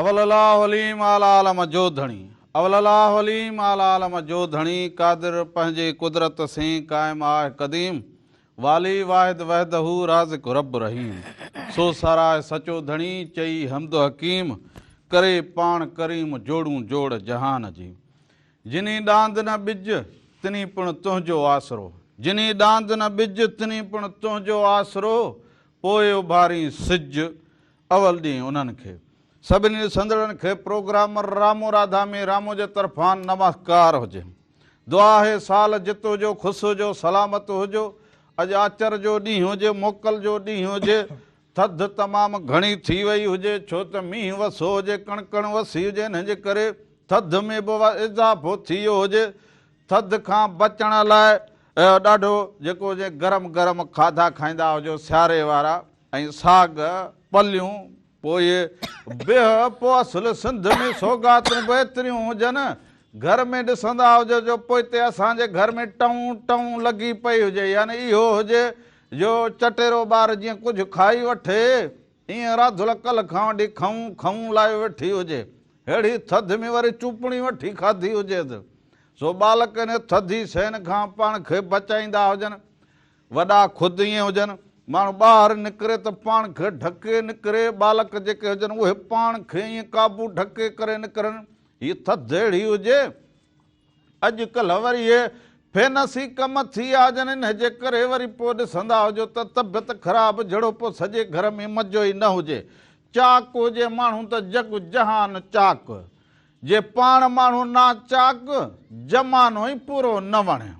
اول الاهو عليم اعليٰ عالم جو ڌڻي اول الاهو عليم اعليٰ عالم جو ڌڻي قادر پنهنجي قدرت سين قائم آهه قديم والي واحد وحده رازق رب رحيم سو ساراهه سچو ڌڻي چئي حمد حڪيم ڪري پاڻ ڪريم جوڙون جوڙ جهان جي جني ڏاند نه ٻج تني پڻ تنهنجو آسرو جني ڏاند نه ٻج تني پڻ تنهنجو آسرو پوء اڀارين سج اول ڏينهن انهن کي سڀني ڏسندڙن کي پروگرامر رامو راڌامي رامو جي طرفان نمسڪار هجي. دعا آهي سال جت هجو، خوش هجو، سلامت هجو. اڄ آچر جو ڏينهن هجي، موڪل جو ڏينهن هجي. ٿڌ تمام گهڻي ٿي وئي هجي ڇو ته مينهن وسو هجي، ڪڻڪڻ وسي هجي انهن جي ڪري ٿڌ ۾ به اضافو ٿي ويو هجي. ٿڌ کان بچڻ لاء ڏاڍو جيڪو هجي گرم گرم کاڌا کائيندا هجو سياري وارا. ۽ ساڳ پليون پوء بيهه پوء اصل سنڌ ۾ سوغاتون به ايتريون هجن گهر ۾ ڏسندا هجو جو پوئتي اسان جي گهر ۾ ٽئون ٽئون لڳي پئي هجي يعني اهو هجي جو چٽيرو ٻار جيئن ڪجهه کائي وٺي ايئن راڌلڪل کان وٺي کئون کئون لائي ويٺي هجي ههڙي ٿڌ ۾ وري چوپڻي وٺي کاڌي هجيت سو ٻالڪ انهي ٿڌي شين کان پاڻ کي بچائيندا هجن. وڏا خود ائين هجن. ماڻهو ٻاهر نڪري ته پاڻ کي ڍڪي نڪري. ٻالڪ جيڪي هجن اهي پاڻ کي ائين قابو ڍڪي ڪري نڪرن. هي ٿڌ اهڙي هجي. اڄڪلهه وري اهي فينسي ڪم ٿي آجن انهي جي ڪري وري پوء ڏسندا هجو ته طبعيت خراب جھڙو پوء سڄي گھر ۾ مزو ئي نه هجي. چاڪ هجي ماڻهو ته جڳ جهان چاڪ. جي پاڻ ماڻهو ناچاڪ، زمانو ئي پورو نه وڻي.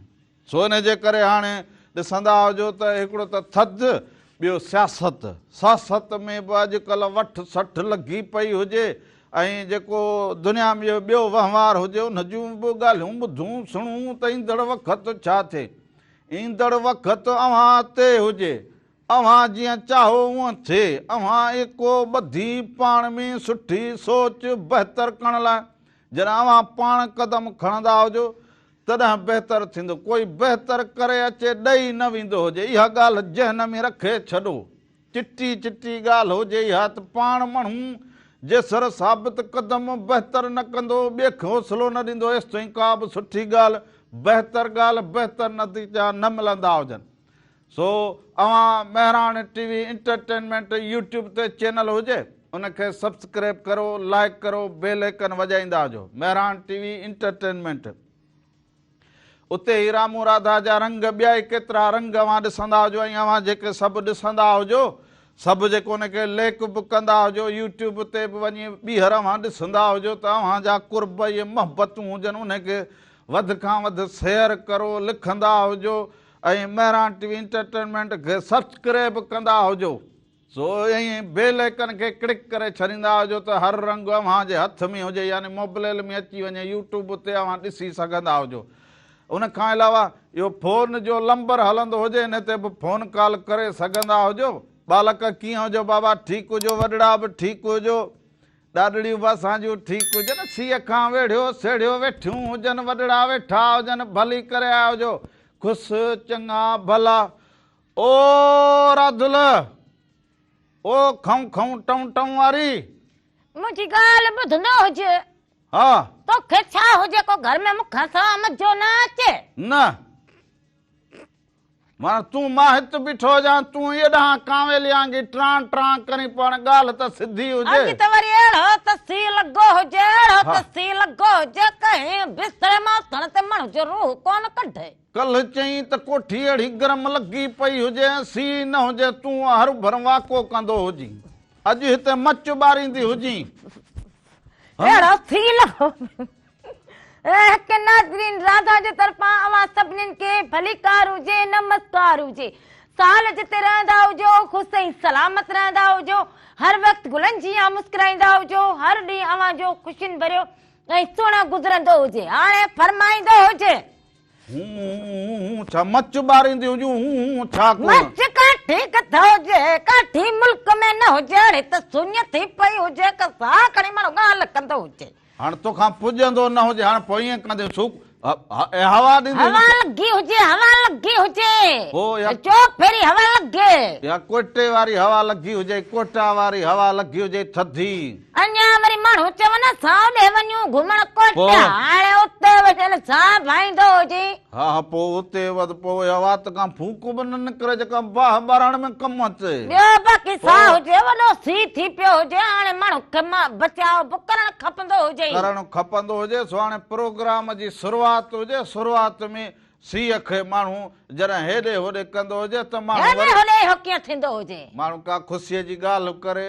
سو ان جي ڪري هاڻي ڏسندا هجو ته هڪڙو ته ٿڌ ٻيو سياست. ساست ۾ به اڄڪلهه وٺ سٺ لڳي پئي هجي ۽ جيڪو دنيا ۾ جو ٻيو وهنوار هجي ان جون به ڳالهيون ٻڌون سڻون ته ايندڙ وقت ڇا ٿئي. ايندڙ وقت اوهان تي هجي. اوهان جيئن چاهو اونهن ٿئي. اوهان ايڪو ٻڌي پاڻ ۾ سٺي سوچ بهتر ڪرڻ لاء جڏهن اوهان پاڻ قدم کڻندا هجو تڏهن بهتر ٿيندو. ڪوئي بهتر ڪري اچي ڏئي نه ويندو هجي. اها ڳالهه ذهن ۾ رکي ڇڏو. چٽي چٽي ڳالهه هجي اها ته پاڻ مڻهو جيسر ثابت قدم بهتر نه ڪندو، ٻيئي کي حوصلو نه ڏيندو ايستائين ڪا به سٺي ڳالهه، بهتر ڳالهه، بهتر نتيجا نه ملندا هجن. سو اوهان Mehran T V entertainment YouTube تي چينل هجي ان کي سبسڪريب ڪرو لائيڪ ڪرو بيل ايڪن وڄائيندا هجو مهراڻ ٽي وي انٽرٽينمينٽ اتي هي رامو راڌا جا رنگ ٻيا ئي ڪيترا رنگ اوهان ڏسندا هجو ۽ اوهان جيڪي سڀ ڏسندا هجو سڀ جيڪو ان کي ليڪ به ڪندا هجو يوٽيوب تي به وڃي ٻيهر اوهان ڏسندا هجو ته اوهان جا قرب ۽ محبتون هجن ان کي وڌ کان وڌ سيئر ڪرو لکندا هجو ۽ مهراڻ ٽي وي انٽرٽينمينٽ کي سبسڪريب ڪندا هجو سو ائين بيل ايڪن کي ڪلڪ ڪري ڇڏيندا هجو ته هر رنگ اوهان جي هٿ ۾ هجي يعني موبليل ۾ اچي وڃي يوٽيوب تي اوهان ڏسي سگهندا هجو ان کان علاوه اهو فون جو لمبر هلندو هجي ان تي به فون ڪال ڪري سگهندا هجو ٻالڪ ڪيئن هجو بابا ٺيڪ هجو وڏڙا به ٺيڪ هجو ڏاڏڙيون به اسان جون ٺيڪ هجن، سيء کان ويڙهيو سيڙهيو ويٺيون هجن، وڏڙا ويٺا هجن، ڀلي ڪري آيا هجو، کس چڱا ڀلا. او راڌل! او کئون کئون ٽئون ٽئون واري! منهنجي ڳالهه ٻڌندو هج. ها! توکي ڇا هو جيڪو گهر ۾ مون کان سوا مزو نه اچي؟ نه! وڻ تون مان هت بيٺو هجان تون ايء ڏانهن ڪانويلي آنگي ٽران ٽران ڪرين پوڻ ڳالهه ته سڌي هجي. اڄ ته وري اهڙو ته سي لڳو هجي اهڙو ته سي لڳو هجي ڪنهن بستري مان اٿڻ تي مڻهه جو روح ڪونه ڪڍي. ڪلهه چئين ته ڪوٺي اهڙي گرم لڳي پئي هجي ۽ سي نه هجي تون هر ڀر واڪو ڪندو هجين اڄ هتي مچ ٻاريندي هجين. اهڙو سي لڳو. هڪ ناظرين راڌا جي طرفان اوهان سڀنين کي ڀليڪار هجي نمسڪار هجي سال جتي رهندا هجو خوش ۽ سلامت رهندا هجو هر وقت گلن جيان مسڪرائيندا هجو هر ڏينهن اوهان جو خوشين ڀريو ۽ سهڻو گذرندو هجي هاڻي فرمائيندو هجي هون ڇا مچ ٻاريندي هجون هون ڇا مچ ڪاٺي ڪٿا هجي ڪاٺي ملڪ ۾ نه هجي اڙي ته سڃ ٿي پئي هجي ڪسا کڻي ماڻهو ڳالهه ڪندو هجي هاڻ توکان پڄندو نه هجي هاڻ پوء ائين ڪندين ٿوڪ هوا ڏيندي هجي هوا لڳي هجي هوا لڳي هجي هو يا چوڪ ڦيري هوا لڳي يا ڪوئٽي واري هوا لڳي هجي ڪوئٽا واري هوا لڳي هجي ٿڌي اڃا وري ماڻهو چون سائو ڏي وڃون گهمڻ ڪوئٽا هاڻي اتي وڃن ساهه ڀائيندو هجين ها ها پوء اتي وڌ پوء اها وات ڪا ڦوڪ به نه نڪري جيڪا باهه ٻارڻ ۾ ڪم اچي. ٻيو باقي ساهه هجي وڏو سي ٿي پيو هجي هاڻي ماڻهن کي بچاء به ڪرڻ کپندو هجي. ڪرڻ کپندو هجي سو هاڻي پروگرام جي شروعات هجي شروعات ۾ سيء کي ماڻهو جڏهن هيڏي هوڏي ڪندو هجي ته ماڻهو وري. هيڏي هوڏي اهو ڪيئن ٿيندو هجي. ماڻهو ڪا خوشيء جي ڳالهه به ڪري.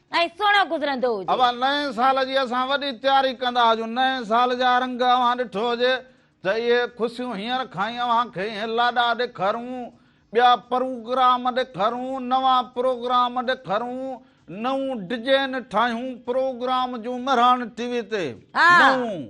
۽ سهڻو گذرندو هجي. اوهان نئين سال جي اسان وڏي تياري ڪندا هجون، نئين سال جا رنگ اوهان ڏٺو هجي ته اهي خوشيون هينئر کان ئي اوهان کي اهي لاڏا ڏيکارون، ٻيا پروگرام ڏيکارون، نوان پروگرام ڏيکارون، نئون ڊجين ٺاهيون، پروگرام جون مهراڻ ٽي وي تي نئون.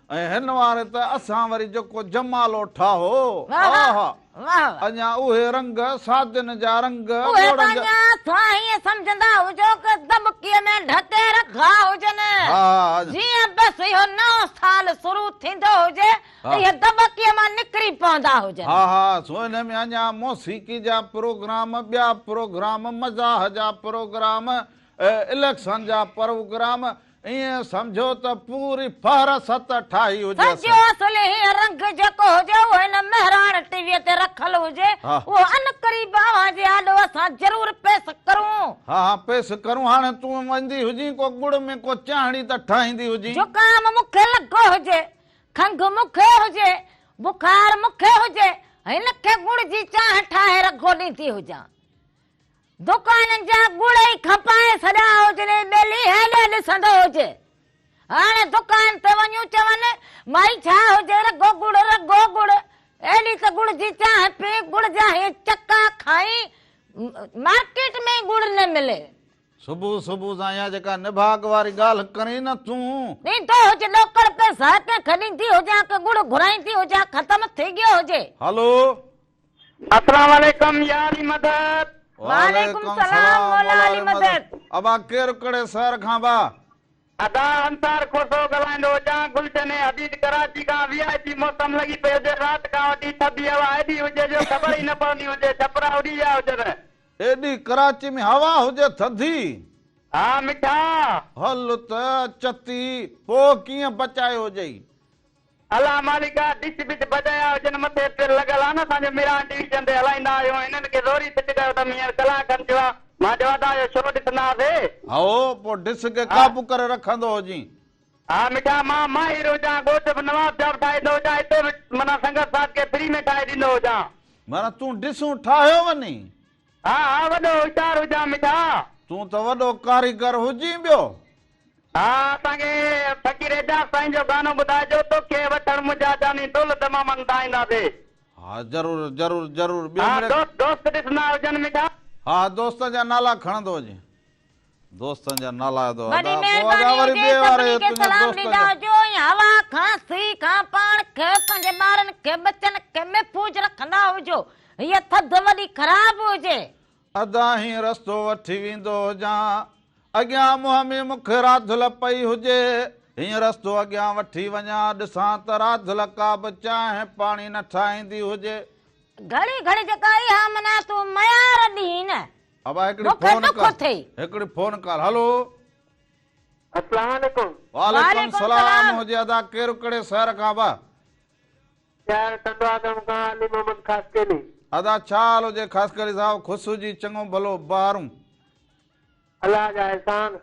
۽ هن واري ته اسان وري جيڪو جمالو ٺاهو، آه! اڃا اهي رنگ، ساجن جا رنگ، اهي ته اڃا توهان هيئن سمجهندا هجو ڪه دٻڪي ۾ ڍڪي رکا هجن، جيئن بس اهو نئون سال شروع ٿيندو هجي، اهي دٻڪي مان نڪري پوندا هجن. ها ها، سو انهي ۾ اڃا موسيقي جا پروگرام، ٻيا پروگرام، مزاح جا پروگرام، اليڪشن جا پروگرام، ائين سمجهو ته پوري فهرست ٺاهي هجيس. سڄو اصل هي رنگ جيڪو هجي اهو هن مهراڻ ٽي وي تي رکيل هجي اهو عنقريب اوهان جي آڏو اسان ضرور پيس ڪرون. ها ها پيس ڪرون هاڻي تون ويندي هجين ڪو ڳڙ ۾ ڪو چانهڙي ته ٺاهيندي هجين. زڪام مون کي لڳو هجي، کنگهه مون کي هجي، بخار مون کي هجي هن کي ڳڙ جي چانهه ٺاهي رگهو ڏيندي هجان. دڪانن جا ڳڙهي کپائي سڏا هجن ۽ ٻيلي هيڏي ڏسندو هجي. هاڻي دڪان تي وڃون چون، مائي ڇا هجي رڳو ڳڙ رڳو ڳڙ، ايڏي ته ڳڙ جي چانهه پي، ڳڙ جا هي چڪا کائي، مارڪيٽ ۾ ئي ڳڙ نه ملي. صبح صبح سان اها جيڪا نڀاڳ واري ڳالهه ڪرين نه تون. ڏيندو هج ڏوڪڙ پئسا ڪنهن کي ڏيندي هجان ڪه ڳڙ گهرائيندي هجان ختم ٿي ڳيو هجي. هلو اسلام عليڪم يا علي مدد. وعليڪم سلام مولا علي مدد. ابا ڪير ڪھڙي شهر کان با. ادا انصار کوسو ڳالهائيندو هجان گلشن ۽ حديد ڪراچي کان وي آء پي موسم لڳي پئي هجي رات کان وٺي ٿڌي هوا ايڏي هجي جو خبر ئي نه پوندي هجي ڇپرا اڏي ويا هجن. ايڏي ڪراچي ۾ هوا هجي ٿڌي. ها مٺا. هل ته چتي پوء ڪيئن بچايو جئي. الا مالڪا ڊچ بچ بجايا هجن مٿي پيل لڳل آن اسان جو ميران ڊويزن تي هلائيندا آهيون هنن کي زوري سٽ ڪيو تم هينئر ڪلاڪ کن ٿيو آ مان چيو ادا اهو شو ڏسندا هاسي. هائو پو ڊس کي ها. قابو ڪري رکندو هجين. ها مٺا مان ماهر هجان ڳوٺ به نواب جا به ٺاهيندو هجان هتي به معنيٰ سنگت ساٿ کي فري ۾ ٺاهي ڏيندو هجان. معنيٰ تون ڊسون ٺاهيو وڃين. ها ها وڏو هوشيار هجان مٺا. تون ته وڏو ڪاريگر هجين ٻيو. ها اسان کي فقير اعجاز سائين جو گانو ٻڌائجو توکي وٺڻ منهنجا جاني دل دمامن تان اينداسي. ها ضرور ضرور ضرور ٻيو مڙيئي. ها دوست ڏسندا هجن مٺا. ها ها دوستن جا نالا کڻندو هجين. دوستن جا نالا ادا ادا وڏي مهرباني هجي سڀني کي سلام ڏيندا هجو ۽ هوا کان سي کان پاڻ کي پنهنجي ٻارن کي ٻچن کي محفوظ رکندا هجو هيء ٿڌ وڏي خراب هجي. ادا هين رستو وٺي ويندو هجان اڳيان منهن ۾ مون کي راڌل پئي هجي هين رستو اڳيان وٺي وڃان ڏسان ته راڌل ڪابه چانهه پاڻي نه ٺاهيندي هجي. گهڙي گهڙي جيڪا اها منا تون ميار ڏين. ابا هڪڙي فون ڪال هڪڙي فون ڪال هلو اسلام عليڪم وعليڪم سلام هجي ادا ڪير ڪڙي سهر کان ابا شهر ٽنڊوا گام کان علي محمد خاصڪيلي ادا ڇا حال هجي خاصڪيلي صاحب خوش هجي چڱو ڀلو بهارون الله جا احسان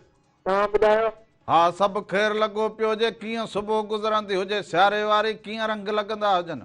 توهان ٻڌايو ها سڀ خير لڳو پيو هجي ڪيئن صبح گذرندي هجي سياري واري ڪيئن رنگ لڳندا هجن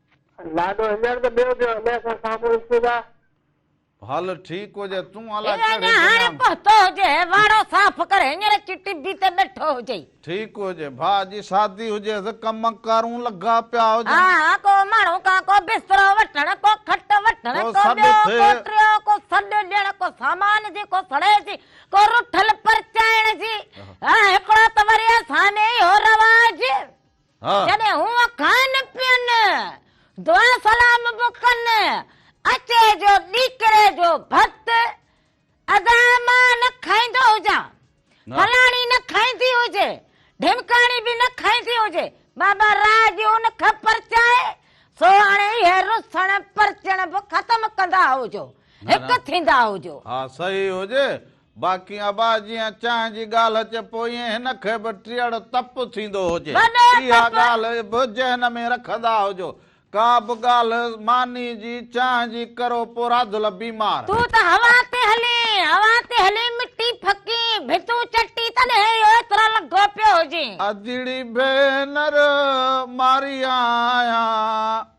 لاڏو هينئر ته ٻيو ٿيو امير کان سامهون ڏسون ٿا. هل ٺيڪ هجي تون الا هي ڪهڙي اڃا هاڻي بنيان. پهتو هجي هي واڙو صاف ڪر هينئر اچي ٽبي تي ٻيٺو هجئي. ٺيڪ هجي ڀاء جي شادي هجيس ڪم ڪارون لڳا پيا هجن. ها ها ڪو ماڻهو ڪا ڪو بسترو وٺڻ ڪو کٽ وٺڻ ڪو ڪو سڏ ٻيو ٿئي. ڪو ٽيو ڪو سڏ ڏيڻ ڪو سامان جي ڪو سڙي جي ڪو رٺل پرچائڻ جي ها هڪڙو ته وري اسان ۾ اهو رواج. جڏهن هو کائن پين، دعا سلام به ڪن، اچي جو ڏيڪري جو ڀت، ادا مان نه کائيندو هجان، فلاڻي نه کائيندي هجي، ڍمڪاڻي به نه کائيندي هجي، بابا راء ڏيو نه کي پرچائي، سو هاڻي اهي رسڻ پرچڻ به ختم ڪندا هجو، هڪ ٿيندا هجو. ها صحيح هجي، باقي ابا جيئن چانهه جي ڳالهه اچي پوئين هن کي به ٽيئڙ تپ ٿيندو هجي. اها ڳالهه به ذهن ۾ رکندا هجو. ڪا به ڳالهه ماني جي چانهه جي ڪرو پو راڌل بيمار. تون ته هوا تي هلين، هوا تي هلين مٽي ڦڪين، ڀتون چٽي تڏهن اهو ايترو لگو پيو هجين. ادڙي ڀينر ماري آهيان.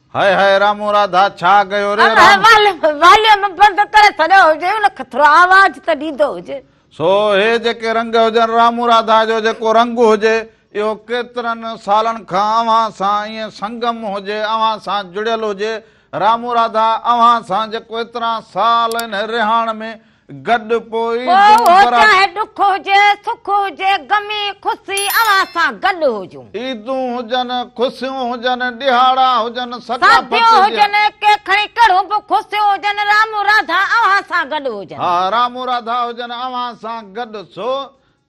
هاء هاء رامو راڌا ڇا ڪيو ري رام. واليوم بند ڪري ڇڏيو هجي ان کي ٿورو آواز ته ڏيندو هجي. سو هي جيڪي رنگ هجن رامو راڌا جو جيڪو رنگ هجي اهو ڪيترن سالن کان اوهان سان ائين سنگم هجي اوهان سان جڙيل هجي رامو راڌا اوهان سان جيڪو ايترا سال انهي رهاڻ ۾ گڏ پوء دوء برات. پوء چاهي ڏک هجي سک هجي غمي خوسي اوهان سان گڏ هجون. عيدون هجن خوسيون هجن ڏهاڙا هجن ثقافت جا. ساديون هجن ڪي کڻي ڪهڙون به خوسيون هجن رامون راڌا اوهان سان گڏ هجن. ها رامون راڌا هجن اوهان سان گڏ ڇو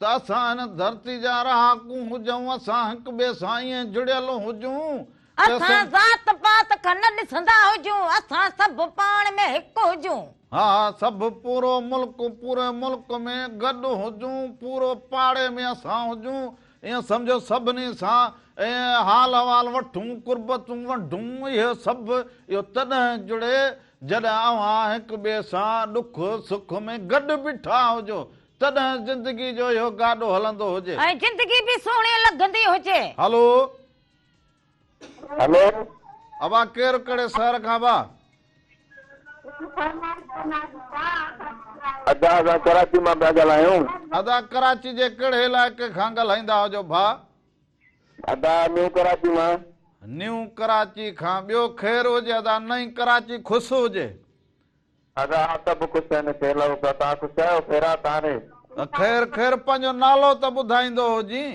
ته اسان هن ڌرتي جا رهاڪون هجون اسان هڪ ٻئي سان ائين جڙيل هجون اسان ذات پات کان نه ڏسندا هجون اسان سڀ پاڻ ۾ هڪ هجون. ها ها سڀ پورو ملڪ پوري ملڪ ۾ گڏ هجون پورو پاڙي ۾ اسان هجون ائين سمجهو سڀني سان ائين حال احوال وٺون قربتون ونڊون اهي سڀ اهو تڏهن جڙي جڏهن اوهان هڪ ٻئي سان ڏک سک ۾ گڏ بيٺا هجو تڏهن زندگي جو اهو گاڏو هلندو هجي ۽ زندگي به سهڻي لڳندي هجي. هلو. هلو اوهان ڪير ڪهڙي شهر کان اوهان. ادا اسان ڪراچي مان پيا ڳالهايون. ادا ڪراچي جي ڪهڙي علائقي کان ڳالهائيندا هجو ڀا. ادا نيو ڪراچي مان. نيو ڪراچي کان ٻيو خير هجي ادا نئين ڪراچي خوش هجي. ادا سڀ خوش آهن کير لڳو پيو توهان خوش آهيو خيرات آهي. خير خير پنهنجو نالو ته ٻڌائيندو هجين.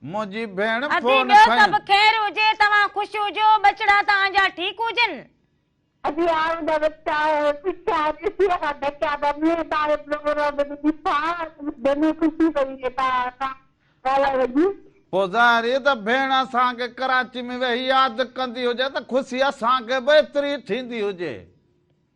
منهنجي ڀيڻ ادي ٻيو سڀ خير هجي توهان خوش هجو ٻچڙا توهان جا ٺيڪ هجن. ادي آء ان وقت آء پڇيا ڏسي ويٺا ڍڪيا ٻه مينهن تان اهي پروگرام به ڏٺا دلي خوشي پئي وئي تان سان ڳالهائي وڄي. پوء ظاهر هي ته ڀيڻ اسان کي ڪراچي ۾ ويهي ياد ڪندي هجي ته خوشي اسان کي به ايتري ئي ٿيندي هجي.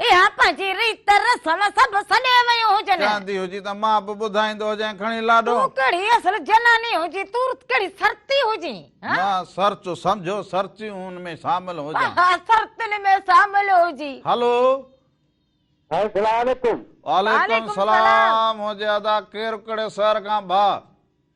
اها پنهنجي ريت رسم سڀ سڏي ويون هجن. چاندي هجي ته مان به ٻڌائيندو هجئين کڻي لاڏو. تون ڪهڙي اصل جناني هجين، تون رت ڪهڙي سرتي هجين، ها؟ مان سرت سمجهيو سرتيون ۾ شامل هجان. ها سرتين ۾ شامل هجين. هلو. سائين سلام عليڪم. وعليڪم سلام هجي ادا ڪير ڪهڙي شهر کان ڀاء.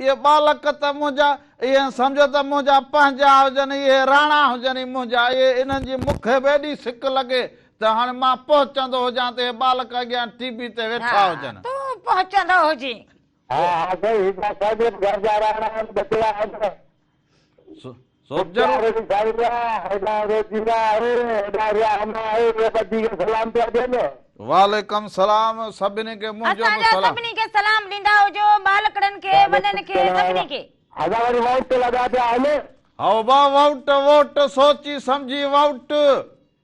اهي ٻالڪ ته منهنجا، ايئن سمجهه ته منهنجا پنهنجا هجن، اهي راڻا هجن ئي منهنجا، اهي انهن جي مون کي به ايڏي سڪ لڳي ته هاڻي مان پهچندو هجان ته اهي ٻالڪ اڳيان ٽيبي تي ويٺا هجن. تون پهچندو هجين. ها ها سائين، هي ڪا ساڳيت گهر جا راڻا آهن، ٻچڙا آهن. وعليڪم سلام سڀني کي منهنجو به سلام سڀني کي سلام ڏيندا هجو ٻالڪڙن کي وڏن کي سڀني کي هذا وري ووٽ لڳا پيا هلي هائو با ووٽ ووٽ سوچي سمجهي ووٽ.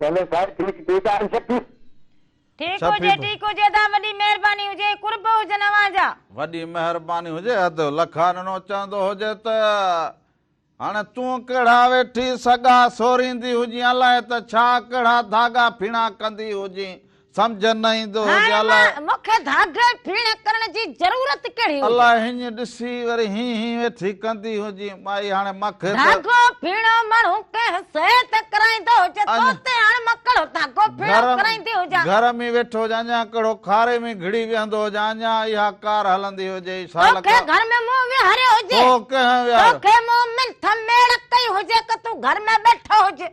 پهلو سائين کي هڪ ٽيڪ آهي شڪ. ٺيڪ هجي ٺيڪ هجي ادا وڏي مهرباني هجي قرب هجن اوهان جا. وڏي مهرباني هجي اڌ لکارنو چوندو هجي ته هاڻي تون ڪهڙا ويٺي سڳا سوريندي هجين الائي ته ڇا ڪهڙا ڌاڳا ڦيڻا ڪندي هجين سمجهه نه ايندو هو جو الاء. هاڻي مون کي ڌاڳي ڦيڻ ڪرڻ جي ضرورت ڪهڙي هئي. الاء هينئن ڏسي وري هين هين ويٺي ڪندي هجين. مائي هاڻي مان کي ته. ڌاڳو ڦيڻو ماڻهو ڪنهن شيء تي ڪرائيندو هجي تو تي هاڻي مان ڪهڙو ڌاڳو ڦيڻو ڪرائيندي هجان. گهر ۾ ويٺو هجان اڃان ڪهڙو کاري ۾ گهڙي ويهندو هجان اڃان اها ڪار هلندي هجي اي شال ڪا. تو کي گهر ۾ مون ويهاريو هجي. تو ڪنهن ويهاريو. تو کي مون منٿ ميڙ ڪئي هجي ڪه تون گهر ۾ ٻيٺو هجين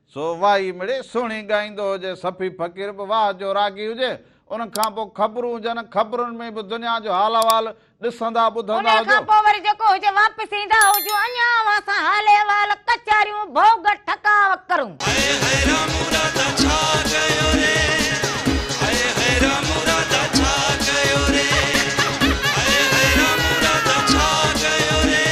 سو وائي مڙئي سهڻي ڳائيندو هجي، صفي فقير به واهه جو راڳي هجي، ان کان پوء خبرون هجن، خبرن ۾ به دنيا جو حال احوال ڏسندا ٻڌندا هجو. ان کان پوء وري جيڪو هجي واپس ايندا هجون، اڃا اوهان سان حال احوال، ڪچهريون، ڀوڳ، ٺڪاء ڪرون. هائي هائي رام راڌا ڇا ڪيو ري هائي هائي رام راڌا ڇا ڪيو ري هائي هائي رام راڌا ڇا ڪيو ري.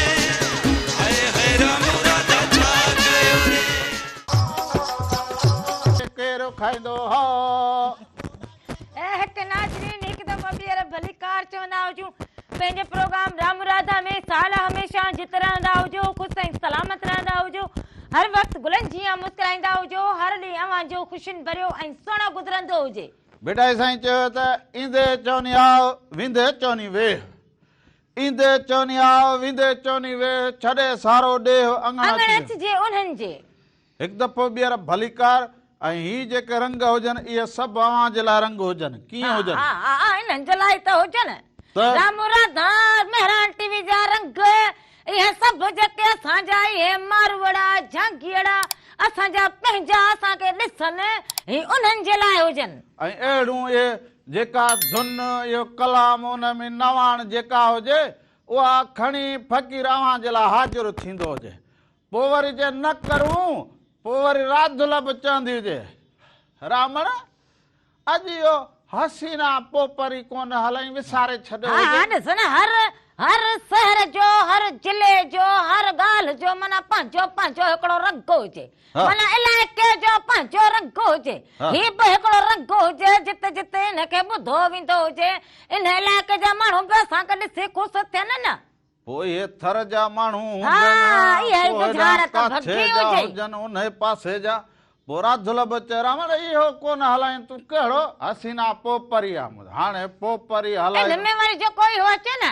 ڪير کائيندو هو. اي هيٺ ناظرين هڪ دفعو ٻيهر ڀليڪار چوندا هجون پنهنجي پروگرام رام راڌا ۾ سال هميشه جت رهندا هجو خوش ۽ سلامت رهندا هجو هر وقت گلن جيان مسڪرائيندا هجو هر ڏينهن اوهان جو خوشين ڀريو ۽ سهڻو گذرندو هجي. ڀٽائي سائين چيو ته ايندي چوني آء ويندي چوني ويهه ايندي چوني آء، ويندي چوني ويھ، ڇڏي سارو ڏيھ، اڱڻ اچجي. اڱڻ اچجي انهن جي. هڪ دفعو ٻيهر ڀليڪار. ۽ هي جيڪي رنگ هجن، اهي سڀ اوهان جي لاء رنگ هجن. ڪيئن هجن؟ ها ها ها، انهن جي لاء ئي ته هجن. ته. رامو راڌا، مهراڻ ٽي وي جا رنگ، اهي سڀ جيڪي اسان جا، اهي ماروئڙا، جهانگيئڙا، اسان جا پنهنجا، اسان کي ڏسن، هي انهن جي لاء هجن. ۽ اهڙيون اهي. جيڪا ڌن اهو ڪلام ان ۾ نواڻ جيڪا هجي اها کڻي فقير اوهان جي لاء حاضر ٿيندو هجي پوء وري جي نه ڪرون پوء وري راڌل به چوندي هجي رامڻ اڄ اهو حسينا پوپري ڪونه هلئين وساري ڇڏيو هجي ها ڏسن هر هر سهر جو هر ضلعي جو هر ڳالهه جو معنيٰ پنهنجو پنهنجو هڪڙو رڳ هجي ڀلا الائي ڪنهن جو پنهنجو رنگ هجي، هي به هڪڙو رنگ هجي، جت جت ان کي ٻڌو ويندو هجي، ان علائقي جا ماڻهو به اسان کي ڏسي خوش ٿين نه. پوء اهي ٿر جا ماڻهو هجن، ڪوهيڙا ڪاڇي جا هجن، انهي پاسي جا. پوء راڌل به چئي، راوڻ اهو ڪونه هلائين تون ڪهڙو؟ حسينا پوء پري آمد، هاڻي پوء پري هلائي. ان ۾ وري جيڪو اهو اچي نه.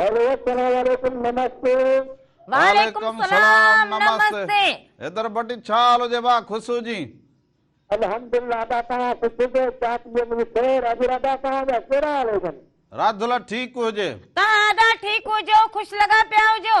هيلو السلام عليڪم نمستي. وعليڪم سلام نمستي. حيدر ڀٽي ڇا حال هجي ڀا خسو جي. الحمدالله ادا توهان سنڌ جي چاٽيء ۾ خير اڄ ادا توهان جا ڪهڙا حال هجن. راڌلا ٺيڪ هجي. توهان ادا ٺيڪ هجو خوش لڳا پيا هجو.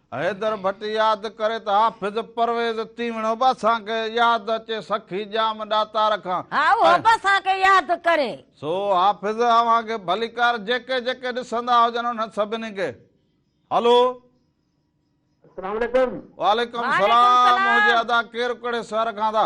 حيدر ڀٽ ياد ڪري ته حافظ پرويز تيوڻو به اسان کي ياد اچي سخي ڄام ڏاتار کان ها اهو به اسان کي ياد ڪري. سو حافظ اوهان کي ڀليڪار جيڪي جيڪي ڏسندا هجن انهن سڀني کي هلو. السلام عليڪم. وعليڪم سلام منهنجي ادا ڪير ڪهڙي شهر کان ٿا.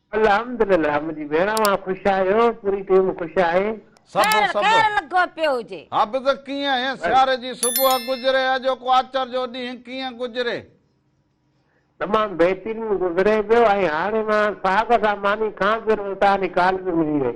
الحمدلله منهنجي ڀيڻ اوهان خوش آهيو پوري ٽيم خوش آهي. سڀ سڀ خير لڳو پيو هجي. حافظ ڪيئن آهين سياري جي صبح گذري اڄوڪو آچر جو ڏينهن ڪيئن گذري. تمام بهترين گذري پيو ۽ هاڻي مان ساهه سان ماني کان پيو رهو توهان جي ڪال به ملي وئي.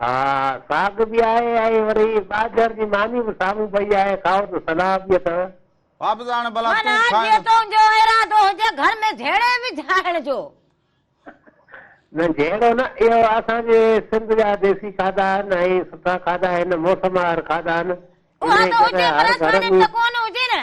ها ساڳ به آهي ۽ وري ٻاجهر جي معني به سامهون پئي آهي، کائو ته صلاح به اٿو. واپس آڻ ڀلا تون معنيٰ کائين. جي تنهنجو ارادو هجي گهر ۾ جهيڙي وجهائڻ جو. نه جهيڙو نه، اهو اسان جي سنڌ جا ديسي کاڌا آهن ۽ سٺا کاڌا هن موسموار کاڌا آهن. اها ته هجي پر اسان ڏي ته ڪونه هجي نه.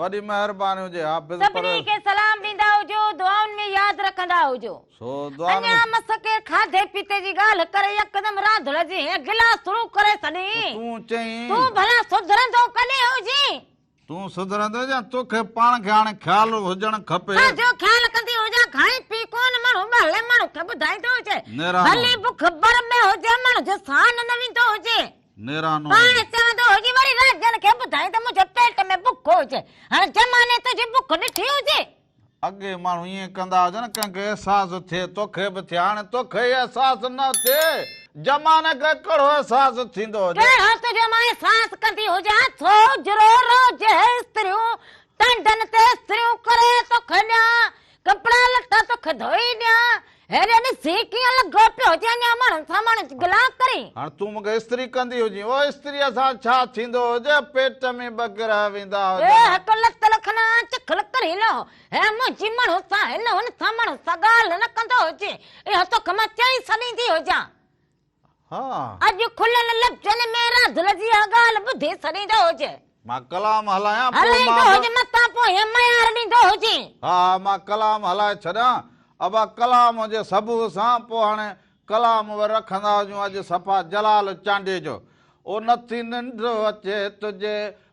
وڏي مهرباني هجي حافظ پرويز. سڀني کي سلام ڏيندا هجو دعائن ۾ ياد رکندا هجو. سو دعائن اڃا ۾. مس ڪير کاڌي پيتي جي ڳالهه ڪري يڪدم راڌڻ جي هيء گلاس شروع ڪري ڇڏين. ته تون چئين. تون ڀلا سڌرندو ڪڏهن هجين. تون سڌرندين يا توکي پاڻ کي هاڻي خيال هجڻ کپي. ڇا جو خيال ڪندي هجان کائين پي ڪونه ماڻهو ٻهلي ماڻهو کي ٻڌائيندو هجي. نيرانو. ڀلي بک بر ۾ هجي ماڻهو جو سان نه ويندو هجي. نيرانو هجي. پاڻ سهندو هجي وري راجن کي ٻڌائين ته منهنجي پيٽ ۾ بک هجي. هاڻ زماني تنهنجي بک ڏٺي هجي. اڳي ماڻهو ائين ڪندا هجن ڪنهن کي احساس ٿئي توکي به ٿئي هاڻي توکي ئي احساس نه ٿئي زماني کي ڪهڙو احساس ٿيندو هجي. ڪهڙو ته جو مان احساس ڪندي هجان ٿو جرو روز هي استريون ٽنڊن تي استريون ڪري توکي ڏيان ڪپڙا لٽا توکي ڌوئي ڏيان. هيڏي ڏسي ڪيئن لڳو پيو هجين اڃا ماڻهن سان ماڻهن جي گلا ڪرين. هاڻ تون مونکي استري ڪندي هجين. او استريء سان ڇا ٿيندو هجي؟ پيٽ ۾ ٻه گرهه ويندا هجن ها. هڪ لت لکنا چکل ڪري نه هي منهنجي ماڻهن سان هن هن سان ماڻهن سان ڳالهه نه ڪندو هجين. اها توکي مان چئي سڏيندي هجان. ها. اڄ کليل لفظن ۾ رازل جي اها ڳالهه ٻڌي سڏيندو هجئه. مان ڪلام هلايان پوء مان به. هلائيندو هجئه متان پويان ميار ڏيندو هجئي. ها ها مان ڪلام هلائي ڇڏيان. ابا ڪلام جي سبوء سان پوء هاڻي ڪلام به رکندا هجون اڄ صفا جلال چانڊيو جو او نٿي ننڊ اچي تنهنجي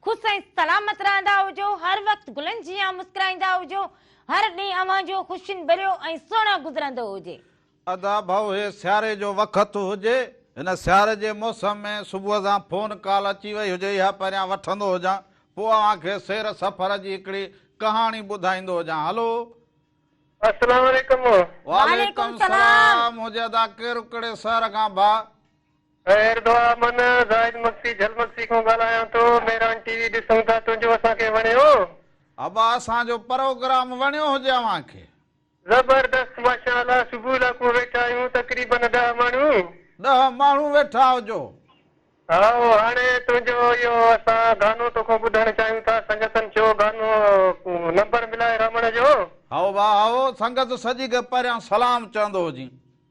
خوش ۽ سلامت رهندا هجو، هر وقت گلن جيان مسڪرائيندا هجو، هر ڏينهن اوهان جو خوشين ڀريو ۽ سهڻو گذرندو هجي. ادا ڀائو هي سياري جو وقت هجي هن سياري جي موسم ۾ صبح سان فون ڪال اچي وئي هجي اها پهريان وٺندو هجان پوء اوهان کي سير سفر جي هڪڙي ڪهاڻي ٻڌائيندو هجان هلو السلام عليڪم. وعليڪم سلام هجي ادا ڪير ڪھڙي شهر کان ڀاء. خير دعا امن زاهد مگسي جھل مگسي کان ڳالهايان ٿو ميران ٽي وي ڏسون ٿا تنهنجو اسان کي وڻيو. ابا اسان جو پروگرام وڻيو هجي اوهان کي. زبردست ماشاء الله صبح لاکون ويٺا آهيون تقريبن ڏهه ماڻهون. ڏهه ماڻهون ويٺا هجو. هائو هاڻي تنهنجو اهو اسان گانو توکان ٻڌڻ چاهيون ٿا سنگتن کي اهو گانو نمبر ملائي رامڻ جو. هائو ڀاء هائو سنگت سڄي کي پهريان سلام چوندو هجين.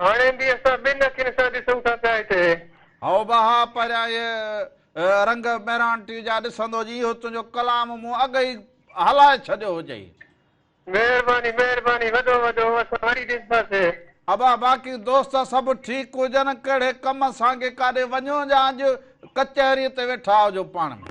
هاڻي به اسان ٻن اکين سان ڏسون ٿا پيا هتي. هائو بها، پهريان اهي رنگ ميرانٽي جا ڏسندو جي اهو تنهنجو ڪلام مون اڳ ئي هلائي ڇڏيو هجئي. مهرباني مهرباني وڏو وڏو اسان وري ڏسنداسين. ابا، باقي دوست سڀ ٺيڪ هجن. ڪهڙي ڪم سانگي ڪاڏي وڃو جا اڄ ڪچهريء تي ويٺا هجو پاڻ ۾.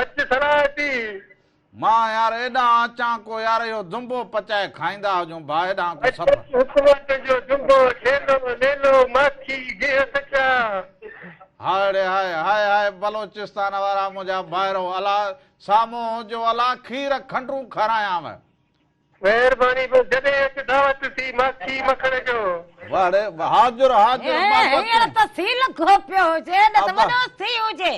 اچ سرا اچي. مان يار ايڏانهن اچان ڪو يار اهو دنبو پچائي کائيندا هجون ڀا ايڏانهن ڪو سڀ. اچ اچ حڪومت جو دنبو ڇيلو ليلو ماکي گيهه سچا. هائڙي هاء هاء هاء بلوچستان وارا منهنجا ڀائرو الا سامهون هجو الا کير کنڊرون کارايانو. مهرباني بس جڏهن اچ دعوت سي ماکي مکڻ جو. واڙي وهات جو رهات جو رباب ڪر تون. هينئر ته سي لکو پيو هجي نه ته وڏو سي هجي.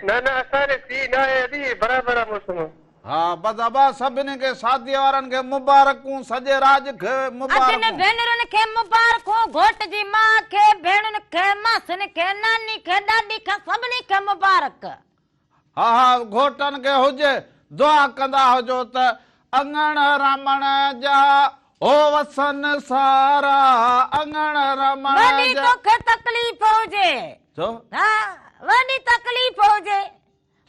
نه نه اسان ڏي سي ناهي ادي برابر آ موسم. ها بس ابا سڀني کي شادي وارن کي مبارڪون سڄي راڄ کي مبارڪون. ادين ڀينرن کي مبارڪون گهوٽ جي ماء کي ڀيڻن کي ماسين کي ناني کي ڏاڏي کي سڀني کي مبارڪ. ها ها گهوٽن کي هجي دعا ڪندا هجو ته اڱڻ رمڻ جا هو وسن سارا اڱڻ رمڻ جا. وڏي توکي تڪليف هجي. ڇو؟ ها وڏي تڪليف هجي.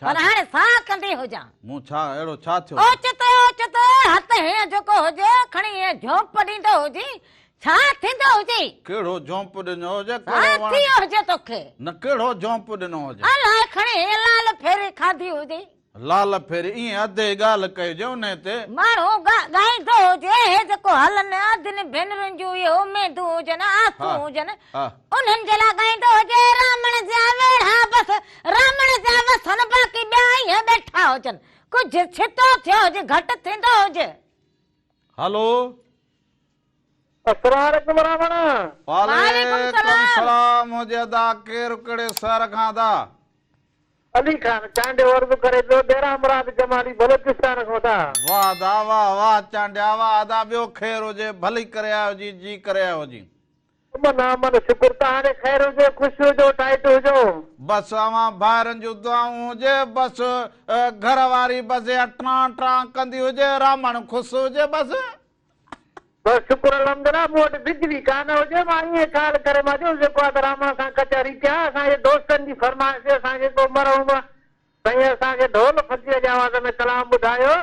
پر هاڻي ساهه ڪندي هجان. مون ڇا اهڙو ڇا ٿيو. اوچتو اوچتو هٿ هيئن جهڪو هجي کڻي هيئن جهوپ ڏيندو هجين ڇا ٿيندو هجي؟ ڪهڙو جهونپو ڏنو هجي؟ ڇا ڪهڙو وڻ؟ ٿيو هجي توکي؟ نه ڪهڙو جهونپو ڏنو هجي؟ الاء کڻي لال ڦيري کاڌي هجي. لال ڦيري ائين اڌي ڳالهه ڪئي هجي انهي تي. ماڻهو ڳائيندو هجي اهي جيڪو هلن اڌن ڀينرن جون اهي اميدون هجن آسون هجن انهن جي لاء ڳائيندو هجي رامڻ جا ويڙها بس رامڻ جا وسن باقي ٻيا ائين ٻيٺا هجن ڪجهه ڇتو ٿيو هجي گهٽ ٿيندو هجي. هلو. اسرار اڪبر راوڻا. وعليڪم سلام ھجي ادا ڪير ڪھڙي شھر کان ادا. علي خان چانڊيو عرض ڪري پيو ڏيرا مراد جمالي بلوچستان کان ادا. واه ادا واه واه چانڊيا واه ادا ٻيو خير ھجي ڀلي ڪري آيو جي جي ڪري آيو جي. امن امن شڪر تهاري خير هجو خوش هجو ٽائيٽ هجو. بس اوهان ڀائرن جون دعائون هجي بس گهر واري بس اها ٽران ٽران ڪندي هجي رامڻ خوس هجي بس. بس شڪر الحمدالله مون وٽ بجلي ڪانه هجي مان ائين خيال ڪري مان چيو جيڪو آ ته رحمان سان ڪچهري ڪيان اسان جي دوستن جي فرمائش تي اسان کي ڪو مرحوم سائين اسان کي ڍول فقير جي آواز ۾ ڪلام ٻڌايو.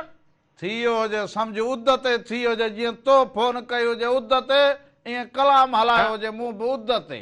ٿيو هجي سمجهه اڌ تي ٿي هجي جيئن تو فون ڪئي هجي اڌ تي ائين ڪلام هلايو هجي مون به اڌ تي.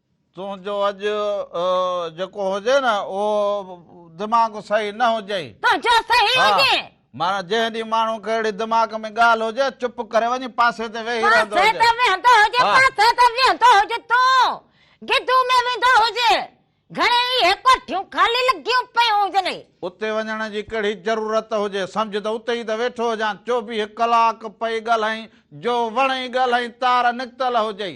تنهنجو اڄ جيڪو هجي نه اهو دماغ صحيح نه هجئي. تنهنجو صحيح هجي. معنيٰ جنهن ڏينهن ماڻهو کي اهڙي دماغ ۾ ڳالهه هجي چپ ڪري وڃي پاسي تي ويهي رهندو هجي. پاسي تي ويهندو هجي پاسي تي ويهندو هجي تون گدو ۾ ويندو هجي گهڻي ئي اهي ڪوٺيون خالي لڳيون پيون هجن. اتي وڃڻ جي ڪهڙي ضرورت هجي سمجهه ته اتي ئي ته ويٺو هجان چوويهه ڪلاڪ پئي ڳالهائين جو وڻئي ڳالهائين تار نڪتل هجئي.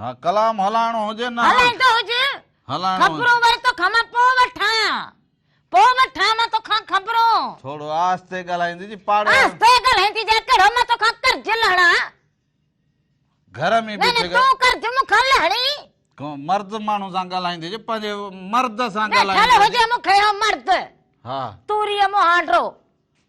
ها ڪلام هلائڻو هجي نه. هلائيندو هج. هلائڻو. خبرون وري توکان مان پوء وٺان. پوء وٺان مان توکان خبرون. ٿورو آهستي ڳالهائيندي جي پاڙي. آهستي ڳالهائيندي جا ڪهڙو مان توکان قرض لهڻان. گهر ۾ بيٺي. نه نه تون قرض مون کان لهڻي. ڪو مرد ماڻهو سان ڳالهائيندي جي پنهنجي مرد سان ڳالهائيندي. ويٺل هجي مون کي اهو مرد. ها. توريء مون هانڊرو.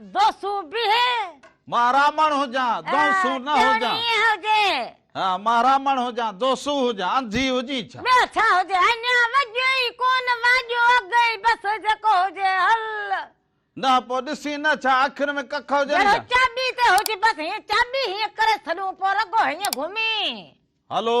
دون سون بيهي. مان رامڻ هجان، دون سون نه هجان. ڄڻ ائين هجي. ها مان رامڻ هجان، دون سون هجان، انڌي هجين ڇا؟ ٻيو ڇا هجي، اڃا وڄيو ئي ڪونه، واڄو اڳ ئي بس، جيڪو هجي هل. نه پوء ڏسين نه ڇا، اکين ۾ ڪک هجن ڇا؟ جهڙو چاٻي تي هج، بس هيئن چاٻي هيئن ڪري ڇڏون، پوء رڳو هيئن گهمين. هلو.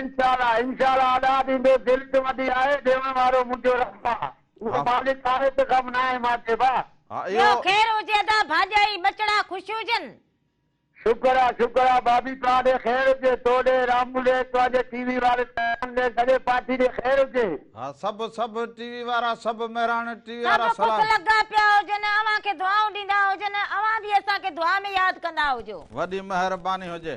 انشاء الله انشاء الله ادا ڏيندو دل ته وڏي آهي ڏيوڻ وارو منهنجو رب آ اهو مالڪ آهي ته غم ناهي مان چئبو آ. ٻيو خير هجي ادا ڀاڄائي ٻچڙا خوش هجن. شڪر آ شڪر آ بابي توهان ڏي خير هجي تو ڏي رامو ڏي توهنجي ٽي وي واري سامان ڏي سڄي پارٽي ڏي خير هجي. ها سڀ سڀ ٽي وي وارا سڀ مهراڻ ٽي وي وارا سڀ خوش سلام. لڳا پيا هجن اوهان کي دعائون ڏيندا هجن اوهان به اسان کي دعا ۾ ياد ڪندا هجو. وڏي مهرباني هجي.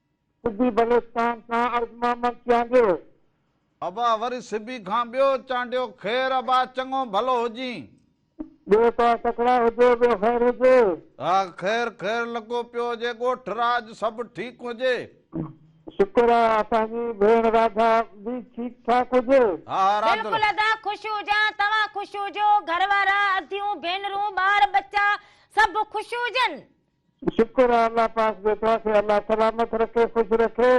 سبي بلوچستان کان عرض محمد چانڊيو. ابا وري سبي کان ٻيو چانڊيو خير ابا چڱو ڀلو هجين. ٻيو ته تڪڙا هجو ٻيو خير هجي. ها خير خير لڳو پيو هجي ڳوٺ راڄ سڀ ٺيڪ هجي. شڪر آ اسان جي ڀيڻ راڌا به ٺيڪ ٺاڪ هجي. ها ها راڌ. بلڪل ادا خوش هجان توهان خوش هجو گهر وارا اديون ڀينرون ٻار ٻچا سڀ خوش هجن. شڪر آ الله پاڪ جو توهان کي الله سلامت رکي خوش رکي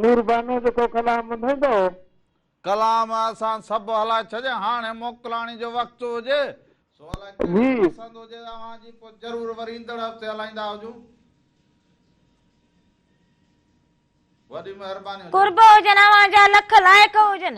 نور بانو جو ڪو ڪلام ٻڌندؤ. ڪلام اسان سڀ هلائي ڇڏيا هاڻي موڪلاڻي جو وقت هجي سو الاء ڪهڙي پسند هجي اوهان جي پوء ضرور وري ايندڙ هفتي هلائيندا هجون وڏي مهرباني هجي. قرب هجن اوهان جا لک لائق هجن.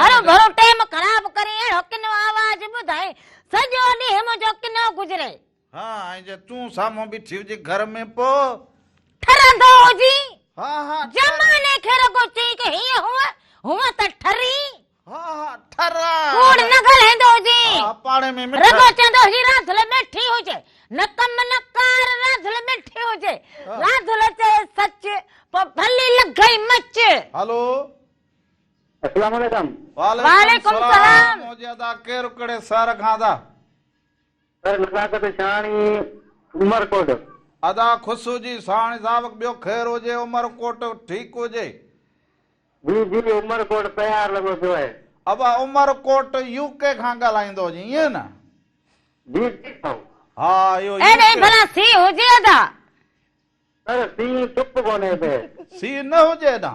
هرو ڀرو ٽيم خراب ڪري اهڙو ڪنو آواز ٻڌائي سڄو ڏينهن منهنجو ڪنو گذري. ها ۽ جي تون سامهون بيٺي هجي گهر ۾ پوء. ٺرندو هجين. ها ها. زماني کي رڳو چئين ڪه هيئن هونء هونء ته ٺرين. ها ها ٺرا. ڪوڙ نه ڳالهائيندو هجين. ها ها پاڙي ۾ مٺا. رڳو چوندو هجين راڌل ميٺي هجي. نه ڪم نه ڪار راڌل ميٺي هجي. راڌل چئي سچ پوء ڀلي لڳئي مچ. هلو اسلام عليڪم. وعليڪم السلام موجي ادا ڪير ڪھڙي سھر کان ادا. سر نزاڪت شھاڻي عمر ڪوٽ. ادا خصو جي ساھاڻي صاحب ٻيو خير ھجي عمر ڪوٽ ٺيڪ ھجي. جي جي عمر ڪوٽ تيار لڳو پيو آھي. ابا عمر ڪوٽ يو ڪي کان ڳالھائيندو ھجين ائين نه. جي جي سائو. ھا اھو يو ڪي. ڀلا سي ھجي ادا. سر سي چپ ڪونھي اتي. سي نه ھجي ادا.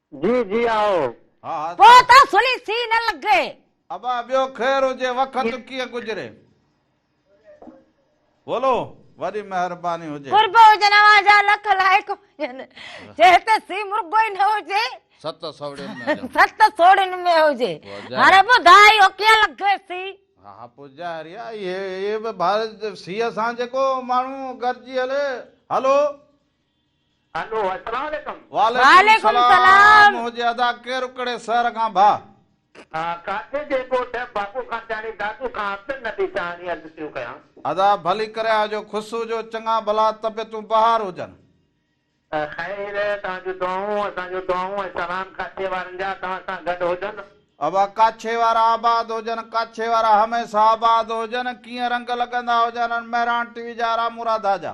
جي جي آئو. ها ها پوء سائين. ته سھڻي سھي نه لڳي. ابا ٻيو خير هجي وقت ڪيئن گذري. بولو وڏي مهرباني هجي. قرب هجن اوهان جا لک لائق هجن جي هتي سي مرغو ئي نه هجي. ست سوڙين ۾ هجان. ست سوڙين ۾ هجي. هاڻي ٻڌاء اهو ڪيئن لڳي سي. ها ها پوء ظاهر آ اهي به سي سان جيڪو ماڻهو گڏجي هلي. هلو هلو السلام عليڪم. وعليڪم السلام منهجي ادا ڪيرڪڙي سهر کان ڀا. ها ڪاٿي جي ڳوٺ باپو خانچاڻي دادو کان عبد النبي چاهاڻي عرض ٿيون ڪيان. ادا ڀلي ڪري آجو خسو جو چڱا ڀلا طبيعتون بهار هجن. خير توهان جون دعائون اسان جون دعائون ۽ سلام ڪاڇي وارن جا توهان سان گڏ هجن. ابا ڪاڇي وارا آباد هجن ڪاڇي وارا هميسه آباد هجن ڪيئن رنگ لڳندا هجن ان مهراڻ ٽي وي جا رامو راڌا جا.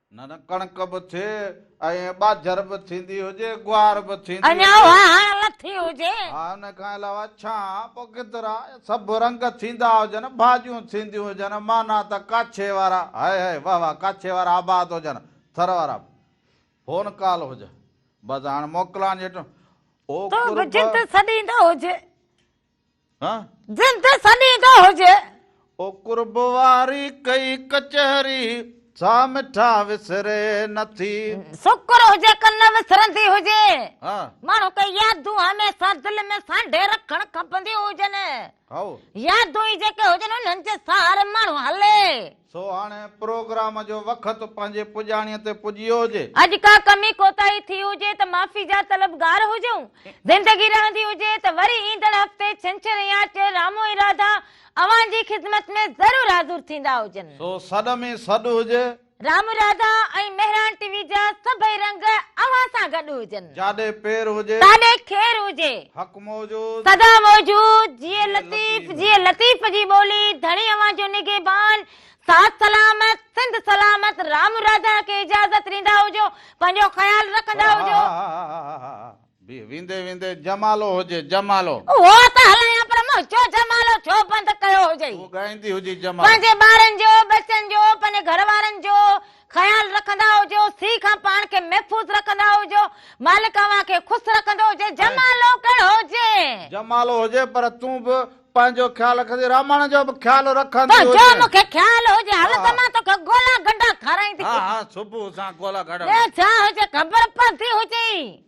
نه نه ڪڻڪ به ٿئي ۽ ٻاجهر به ٿيندي هجي، گوار به ٿيندي اڃا هجي. واهڻ لٿي هجي. ها ان کان علاوه ڇان، پوء گدرا، سڀ رنگ ٿيندا هجن، ڀاڄيون ٿينديون هجن، معنيٰ ته ڪاڇي وارا، هاء هاء، واه واه، ڪاڇي وارا آباد هجن، ٿر وارا به. فون ڪال هجي. بس هاڻ موڪلان جي ٽيم. او قرب. تون به جت سڏيندو هجي. جنھن تي سڏيندو هجي. او قرب واري ڪئي ڪچهري، سا مٺا وسري نه ٿي. سڪر هجي ڪن نه وسرندي هجي. ماڻهو ڪي يادون هميشه دل ۾ سانڍي رکڻ کپنديون هجن. يادون ئي جيڪي هجن انهن جي سهاري ماڻهو هلي. سو هاڻي پروگرام جو وقت پنهنجي پڄاڻيء تي پڄيو هجي. اڄ ڪا ڪمي ڪوتاهي ٿي هجي ته معافي جا طلبگار هجون. زندگي رهندي هجي ته وري ايندڙ هفتي ڇنڇر يا چهر رامو ۽ راڌا اوهان جي خدمت ۾ ضرور حاضر ٿيندا هجن. سو سڏ ۾ سڏ هجي. رامو راڌا ۽ مهراڻ ٽي وي جا سڀئي رنگ اوهان سان گڏ هجن. جاڏي پير هجي. تاڏي خير هجي. موجود. سدا موجود، جيئي لطيف، جيئي لطيف جي ٻولي، ڌڻي اوهان جو نگهبان، ساٿ سلامت، سنڌ سلامت، رام راڌا کي اجازت ڏيندا هجو، پنهنجو خيال رکندا هجو. بيهه ويندي ويندي جمالو هجي جمالو. اهو ته هلايان پر منهنجو جمالو ڇو بند ڪيو هجئي. تون ڳائيندي هجي جمالو. پنهنجي ٻارن جو، ٻچن جو، پنهنجي گهر وارن جو. خيال رکندا هجو، سي کان پاڻ کي محفوظ رکندا هجو، مالڪ اوهان کي خوس رکندو هجي، جمالو ڪهڙو هجي. جمالو هجي پر تون به پنهنجو خيال رکندي راماڻ جو به خيال رکندي هجي. تنهنجو مون کي خيال هجي، هل ته مان توکي گولا گنڊا کارائيندي هجان. ها ها صبح سان گولا گنڊا. ٻيو ڇا هجي خبر پوندي هجي.